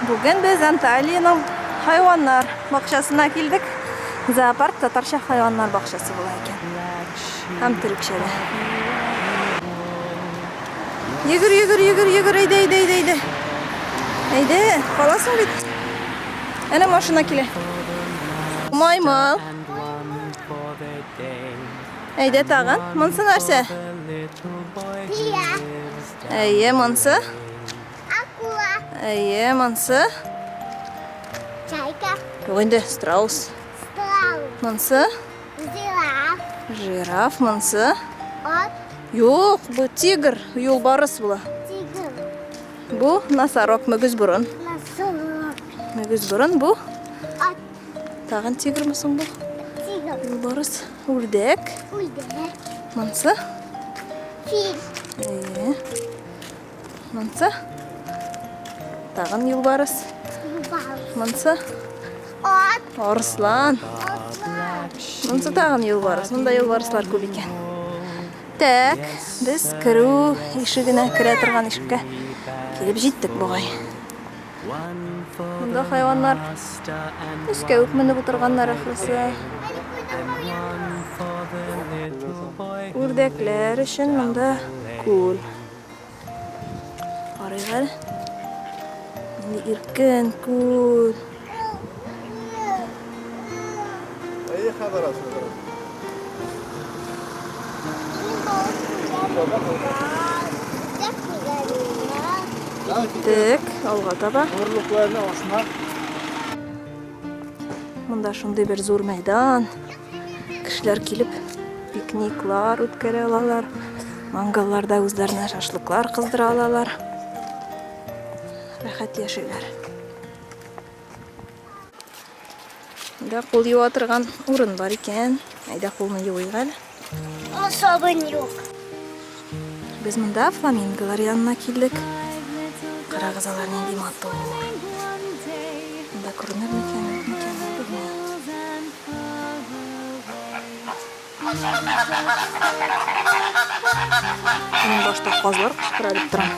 Бүген без Анталиянең хайваннар бакчасына килдек. Зоопарк татарча хайваннар бакчасы була икән. Һәм төрекчә дә. Йөгер, йөгер, йөгер, йөгер, әйдә, әйдә, әйдә, әйдә. Әйдә, каласың бит. Әнә машина килә. Маймыл. Әйдә тагын. Монсы нәрсә? Бия. Әйе, монсы? Акула. Әйе, монсы? Чайка. Юк инде, страус. Страус. Монсы? Жираф. Жираф, монсы? Ат. Юк, бу тигр, юлбарыс була. Тигр. Бу носорог, мөгез борын. Носорог. Мөгез борын бу? Ат. Тагын тигрме соң бу? Тигр. Юлбарыс. Үрдәк. Үрдәк. Монсы? Фил. Әйе. Монсы? Тагын юлбарыс. Юлбарыс. Монсы? Ат. Арыслан. Атлар. Монсы тагын юлбарыс. Монда юлбарыслар күп икән. Так, без керү ишегенә керә торган ишеккә килеп җиттек бугай. Монда хайваннар өскә үк менеп утырганнар ахрысы. Үрдәкләр өчен монда күл. Карыйк әле. Нинди иркен күл. Әйе, хәбәр Киттек, алга таба. Орлыкларны ашма. Монда шундый бер зур мәйдан. Кешеләр килеп пикниклар үткәрә алалар. Мангалларда үзләренә шашлыклар кыздыра алалар. Рәхәт яшиләр. Монда кул юа торган урын бар икән. Әйдә кулны юыйк әле. Ул сабын юк. Без монда фламинголар янына килдек. Карагыз алар нинди матур. Монда күренер микән, юк микән, белмим. Мин башта казлар кычкыра дип торам.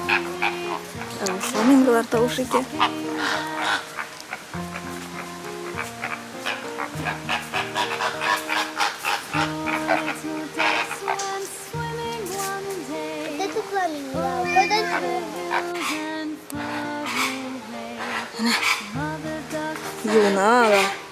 Фламинголар тавышы итә. Юна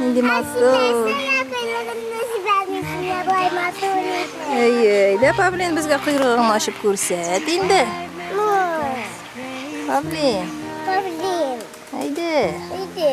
Нинди матур. Әйе, әйдә Павлин безгә койрыгыңны ачып күрсәт инде. Павлин. Павлин. Әйдә. Әйдә.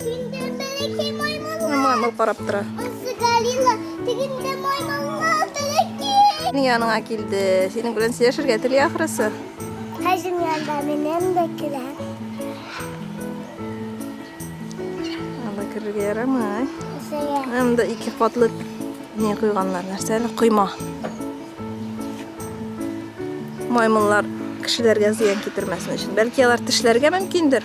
Тегендә бәләкәй маймыллар. Маймыл карап тора. Узды Галила, тегендә маймыллар бәләкәй. Нигә аңа килде? Синең белән сөйләшергә тели ахрысы. Хәҗин янда минем дә килә. Анда керергә ярамый. Үзәгә. Анда ике катлы не куйганнар, нәрсә әле койма. Маймыллар кешеләргә зыян китермәсен өчен. Бәлки алар тешләргә мөмкиндер.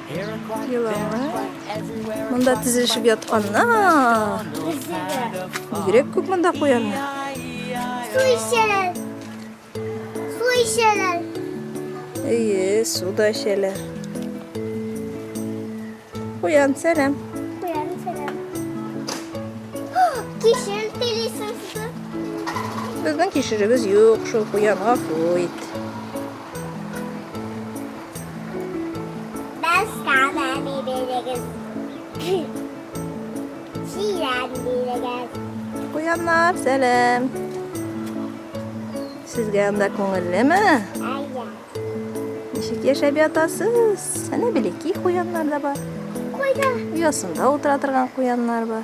Еланнар. Монда тезелешеп ятканнар. Бигрәк күп монда куяннар. Су эчәләр. Су эчәләр. Әйе, су да эчәләр. Куян, сәлам. Куян, сәлам. Кишер телисең. Безнең кишеребез юк, шул куянга куйт. Куяннар, сәлем. Сезгә анда күңеллеме? Әйе. Ничек яшәп ятасыз? Әнә белеки куяннар да бар. Куя. Оясында утыра торган куяннар бар.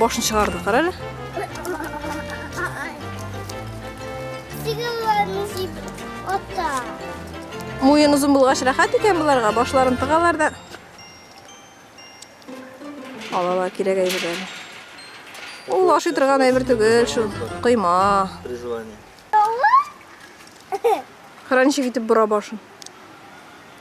Башын чыгарды, кара әле. Сигылларны сип ата. Муен озын булгач рәхәт икән боларга, башларын тыгалар да. Алалар кирәк әйберләр. Ул ашый торган әйбер түгел шул. Кыйма. Призвание. Хранчик итеп бора башын.